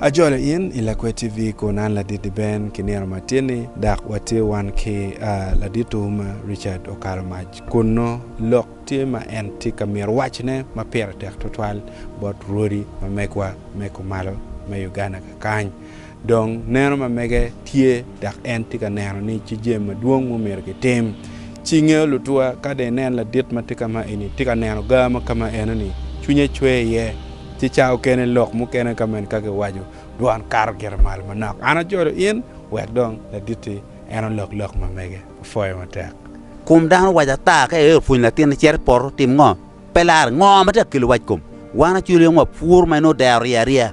Ajolo in i Lakwe TV kun an Ladidi Ben ki nino matin-ni dok watye wan ki Laditwu ma Richard Okalomac kunnu lok tye ma en tye ka mito wacone ma pire tek twatwal bot rwodi ma megwa me kumalo me Uganda kakany. Dong, neno ma mege tye dok en tye ka neno ni ci jami madwong ma omyero kitim. Ci ngeyo lutua, ka dong inen ladit ma tye ka ma eni tye ka neno gaa ma ka ma eno-ni, cwinye cwer iye. Ci ca okene lok mukene ka ma en ka giwaco, dwon kato gire malo manok, An ajolo in, wek dong laditti en olok lok ma mege. Apwoyo matek. Kom dano owaco ata ka en opwonyo latinne cito i poto, tim ngo? Pe lar, ngo ma tye ka kelo wac kom? Wan acolli ongo wapur ma en odero rye arye?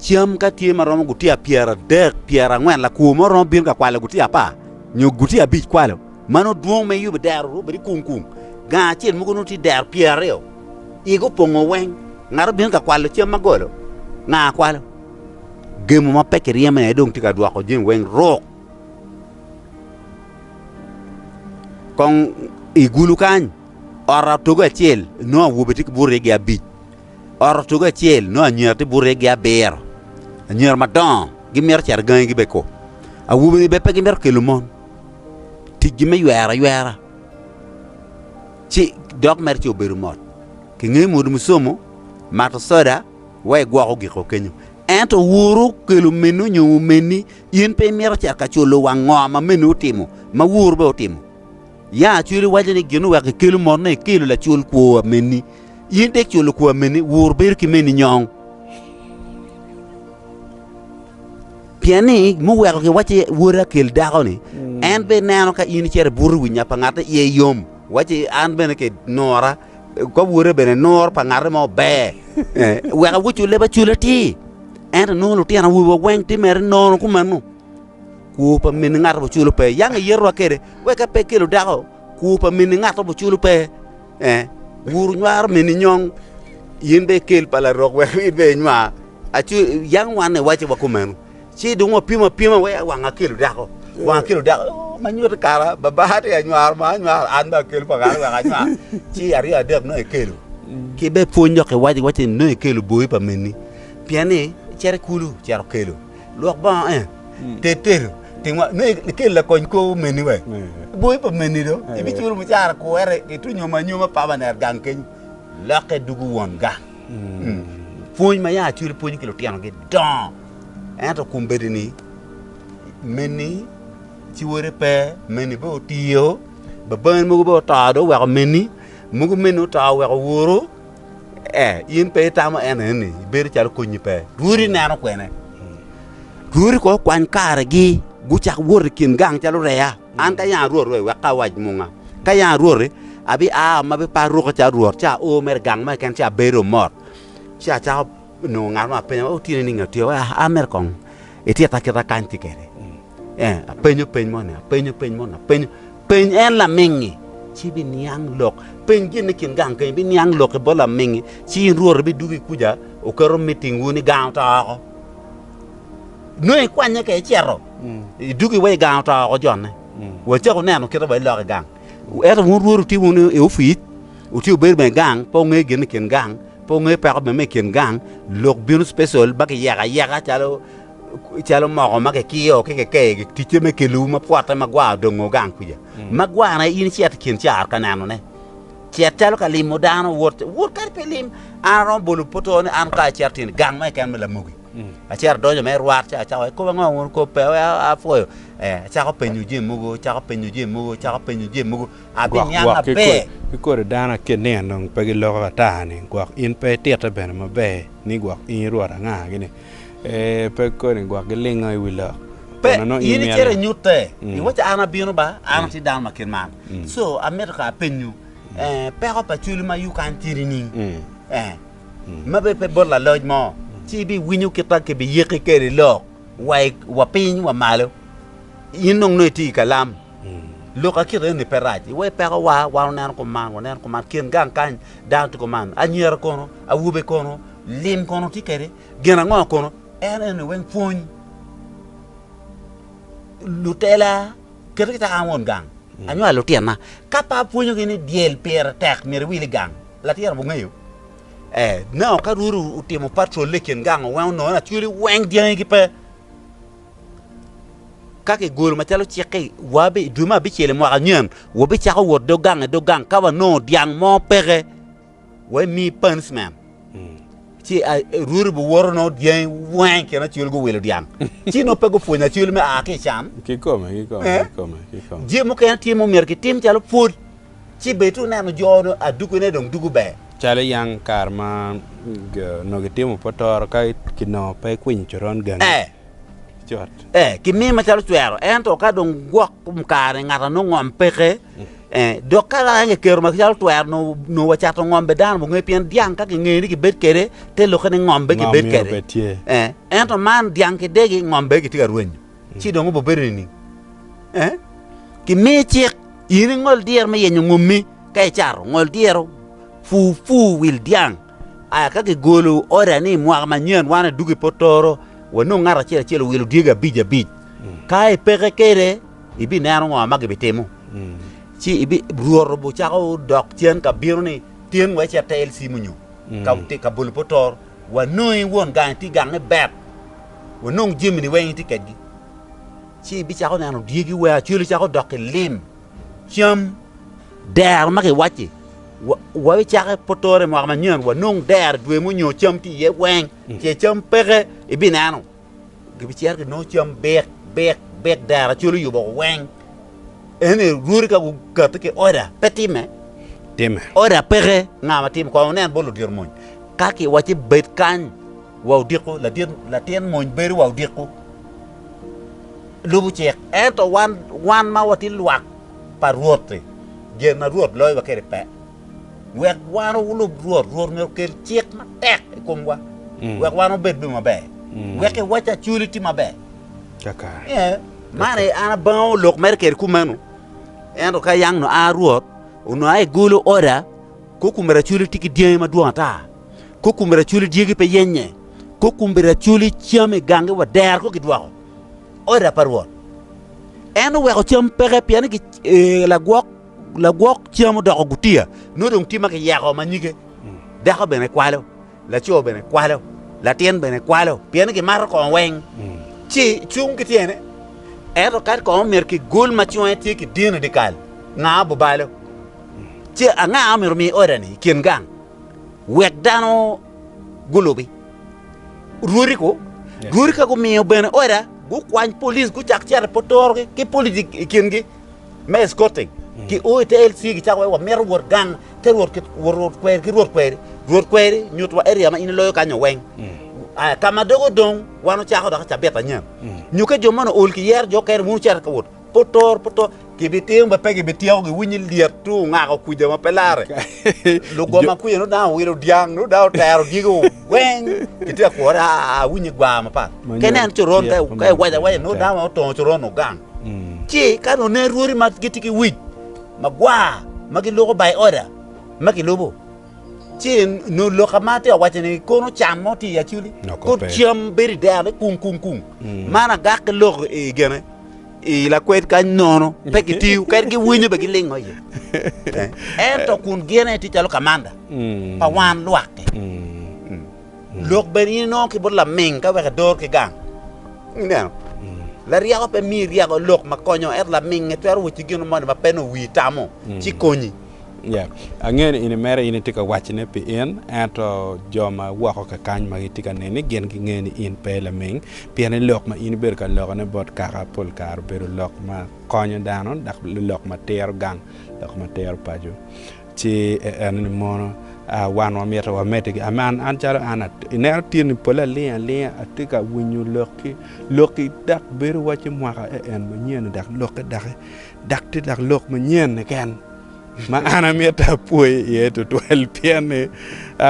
Cam ka tye ma romo gutiya pyeradek, pyerangwen, lakwo mo romo bino ka kwalo gutiya apar nyo gutiya abic kwalo. Mano dwong ma iyubo dero ru bedo kung kung. Gang acel mogo nongo tye dero pyeraryo, igi opongo weng. Ngat obino ka kwalo cam ma golo, nga kwalo. Gemo ma pe kiryemo aye dong tye ka dwoko jami weng ruk. Kong i gulu kany, ot atogo acel nongo awobe tye ki burine gi abic. Ot otugo acel nongo anyira tye bute gi abiro. Anyira madongo gimito cito gangi gi beko. Awobe ni bene pe gimito kelo mon. Tic gi me ywero aywera ci dok mere ci obedo mot ki nge modo musomo, mato soda wa igwoko giko kenyo. Ento wuru kelo meni onyo omeni in pe imito cito ka culo wang ngo ma meni otimo ma wuru bene otimo. Ya acwil iwaco ni gin oweko ikelo mot na ikelo lacul kwo wa meni. In dek cul kwo wa meni wur bedo ki meni nyong. Pien ni muweko kiwacci woda kel dako ni en be neno ka in icito i buto wi nya pa ngatte iye yom. Wacci an bene ke nora kop woda bene nor pa ngatte mo ber. Weka wucule ba cule atir. Ento nongo lutino awobe wa weng timere nono kumeno. Kwo pa min ngat ma oculo pe, yang iyerowa kwede, wek ape kelo dako. Kwo pa min ngat ma oculo pe, ee, wuru nywaro min inyong, in bene ikel pa larok wek in bene inywa. Aco, yang wan iwacce wa kumeno. Ci dong wapimo apima wek wang akelo dako, wang akelo dako. Oh, ma nyuto kara, baba tye ka nywaro ma anywaro, an bene akelo pa kara wek anywar. Ci aryo adek nongo ikelo. Ki bene pwony dok iwac iwacce ni nongo ikelo boi pa minni, pien ni cito i kulu cito kelo. Lwok bongo en, ter tedo, timwa me ikel lakony kor omeni we. Boyi pa meni do, ibiculo mucara kuwere itu nyoma anyoma papa ner gang kenyo. Lokke dugu won gang. Pwony ma ya acwele pwonyo ki lutino gi dongo. Ento kum bedi ni meni ciwore pe, meni be otiyo, babaen mogo be oto do oweko meni, mogo meni oto oweko woro. Ee, in pe itamo en eni, ibedo calo konyi pe. Rwodi ineno kwene. Rwodi kono okwany karegi, gucak wot i kin gang calo reya. An ka yanga rwot we, wek ka awac munga. Ka yanga rwoti, abiaa ma biparo ruka calo rwot, ci ao mere gang mo keken, ci abedo mot. Ci acako nongo ngat mo apenyo, Otieno nining atyeko? Aa mere kong. Itika kita kany tye kede? Eh, apenyo peny moni, apenyo peny moni, apenyo. Peny en lamingi, ci biniang lok. Peny gin ni kin gang kenyo, biniang lok i bot lamingi, ci in rwot ibidugo i kuca, oketo miting wun i gang oto oko. Nongo ikwanye ka icito, idugo iwe i gang oto oko jonne. Wa cako neno kita wa ilok i gang. Ento wun rwot wutye wunu i opic, wutye wubedo bene i gang, pe wungeyo gin ni kin gang, Pe wungeyo peko me me kin gang, lok bino special ma kiyeko ayeka calo calo moko ma kikiyo ki keke ki ticce me kelowu ma pwote ma gwa odongo gang kwica. Ma gwane in icito i kin caro ka nenone, cet calo ka limo dano, wot wot kadi pe lim. An aromo bolo pwotoo ni an ka acito tyen i gang mo keken me Lamogi, acito adonyo me rwat ca acako ikobo ango wun kop pe wek apwoyo, ee acako penyo jami mogo, acako penyo jami mogo, acako penyo jami mogo. gwok gwok ki kodi dano akit ni en dong pe giloko ata ni gwok in pe ititte bene maber ni gwok in irwot anga gini ee pe koni gwok gilingo i wi lok pe in icito inyutte iwaci an abino ba an atye dano ma kit man co amito ka apenyu peko pa cwalo ma yung kany tye nining ma bene pe bot laloc mo ci ibiwinyo kit ma kibiyikki kwede lok wa piny wa malo in dong nongo itye i kalam Lok a kit eni pe rac. Iwe pekowa, wan oneno kuman, waneno kuman. Kin gang kany dano tye kuman. Anyira kono? Awobe kono? Lim kono tye kede? Gin ango kono? En eni weng pwony. Lutela kete kit an won gang anywalo lutyena. Ka pe apwonyogi ni dyel pire tek myero iwil i gang, latyena wungeyo? Ee, nao ka rwodi otimo patrol-le i kin gang, owengo nongo lacweli weng dyangi gipe. Ka kigolo macalo cikke, wa i dwe me abicel i mwaka nyen, wabicako wot dog gang ki dog gang. Ka wanongo dyang mo peke, wami punishment. Ci Ruti biwoto nongo dyangi weng kit ma Acwel guwilo dyang. Ci nongo pe gupwonyo Acwel me a ki i can. Kikome, kikome, kikome. Je mukene tye ma omyero kitim calo pwod. Ci bed to neno jo onongo adugine dong dugo ber. Calo iyang kare ma onongo itimo pe otoro ka kinongo pe ikwinyo coron gangi. Ee. Cut. Ee, kimiyo macalo cwero. Ento ka dong gwok kom kare-ni ngat anongo ngom peke, ee, dok ka lok en kiketo macalo twero nongo nongo wacato ngom bed dano munge pien dyang ka kingeyo ni kibed kwede te lokke ni ngom bene kibed kwede. Ee, ento man dyang ki degi ngom bene gitye ka rwenyo. ci dong obobedo nining? Ee, kimiyi cik in ingol dyero me yenyo ngommi. Ka icato, ngol dyero pur pur wil dyang. Aya ka kigolo oda ni mwaka manyen wan adwogo i Potoro, wanong ngat acel acel owilo dyegi abic abic. Ka ipeke kwede, ibineno ngo ma gibitimo. Ci Rwot obicako dok cen ka bino ni, 'Tyen wa icit te LC munyu ka bolo Potoro, wanongi won gang iti gang ni bet. wanong jamini weng itye kedgi, ci ibicako neno dyegi wa calo cako dok ki lim, cam, dero ma kiwacci wa bicake potore mwaka manyen wanong dero dwe munyo cam tye iye weng, ce cam peke ibineno gibicito ginongo cam bik bik bik dero calo oyubo weng, ene rwodi ka gukati ki order pe time, order peke nga matimo kong wunen bot ludito mony ka kiwacci bed kany. Wa odiko, ladit, latin mony bedo wa odiko, lubo cik. Ento wan, wan ma watye lwak pa Rwot-ti, jami ma Rwot loyo wa kwede pe. Wek wan wulub Rwot, Rwot myero okel cik matek i komwa, wek wan wubed bene maber, wek i wacci acwali tye maber. Kakare. Man aye an abango lok mere kede kumeno. Ento ka yang nua Rwot, onua aye golo order, kokumere acwali tye ki dyangi madwong ata. Kok kun biraculi dyegi pe yenye, kok kun biraculi cam i gangi wa dero kok gidwoko oda pa Rwot. En oweko cam peke pien ni ee, lagwok lagwok cam odoko gutiya, nongo dong tye ma kiyeko ma nyige. Dako bene kwalo, laco bene kwalo, latin bene kwalo, pien ni gimato kongo weng. Ci cung ki tyene, ento kadi kongo myero kigul ma cunge tye ki dino dyekal, nga obubalo. Ci anga omyero omi odani i kin gang? wek dano gulubi. Rwodi ko, rwodi ka gumiyo bene oda gukwany police gucak cito i potorogi ki police i kingi me escorting mm. ki o ite LC gicako wa wamito rwot gang te rwot rwot kweri ki rwot kweri rwot kweri nyutwa area ma in iloyo kanyo weng mm. kama dogo dong wan ocako dok cabit anyen mm. nyuke jo mano ol ki yero jo kene wun cero ka wot Putur, putur. Gibitimo ma pe gibityeko giwinyi lyet tu ongako kuja ma pe lare. Lugo ma kuja nudang owilo dyang, nudang otero dyego weng. Gitye ka kwore, aa, winyi gwar mapat. Ke nen coron, ka i- ka iwaco awaca, nudang ma otongo coron ogang. Ci ka nune rwodi ma gitye ki wic magwar ma giloko by order ma gilubo, Ci nu lok ma atye ka waco ni kono can mo tye i aculi. Kono cam bedo i dero ni kung kung kung. Mm. Man agak ki lok i gene i lakwed kany nono pe gitiyo kadi giwinyo be gilingo iye. Eh, Ento kun gene tye calo kamanda mm. pa wan lwak-ki. Mm. Lok bene in inongo ki bot laming ka wek idor ki gang. Ineno? Laryeko pe miyo iryeko lok ma konyo ento laminge twero woti gino moni ma pe nongo wii tamo ci konyi. Angeyo ni in imere, in itye ka wacone pi in, ento jo ma woko kakany ma gitye ka neni gin gingeyo ni in pe ilaming, pien ni lok ma in ibedo ka lokone bot kaka pol kare obedo lok ma konyo dano dok lok ma tero gang, lok ma tero paco. Ci en ni mono wan wamito wamedde ki man an calo an ineno tyeni pole aling alinga atye ka winyo lokki, lokki dok bedo wacci mwaka en en manyen-ni dok lokke doki Dok tye dok lok manyen keken ma an amito apwoyi iye tutwal pien ni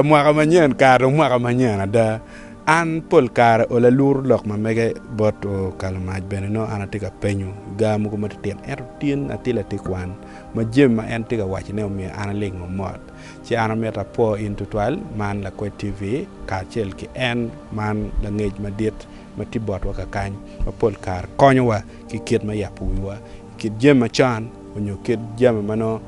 mwaka manyen kare dong mwaka manyen ada. An pol kare ola luru lok ma mege bot okalo mac bene nongo an atye ka penyo gar mogo matitino. Ento tin atye latin kwan ma jami ma en tye ka wacone omiyo an alingo mot. Ci an amito apwo in tutwal man Lakwed TV kacel ki en man langec madit ma tye botwa kakany ma pol kare konyowa. ki kit me yabo wiwa i kit jami macon onyo kit jami ma nongo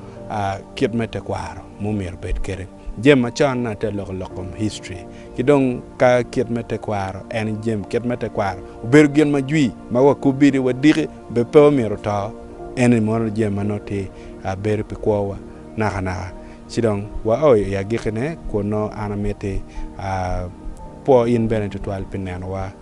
kit me tekwaro ma omyero obed kwede. Jami macon nongo te loko lok kom history ki dong ka kit me tekwaro en jami kit me tekwaro obedo gin ma jwi ma wakobi ni wadiki be pe omyero oto en ni mono jami ma nongo tye bedo pi kwowa naka naka ci dong wa o i agikine kun nongo an amiti kwo in bene tutwal pi nenowa.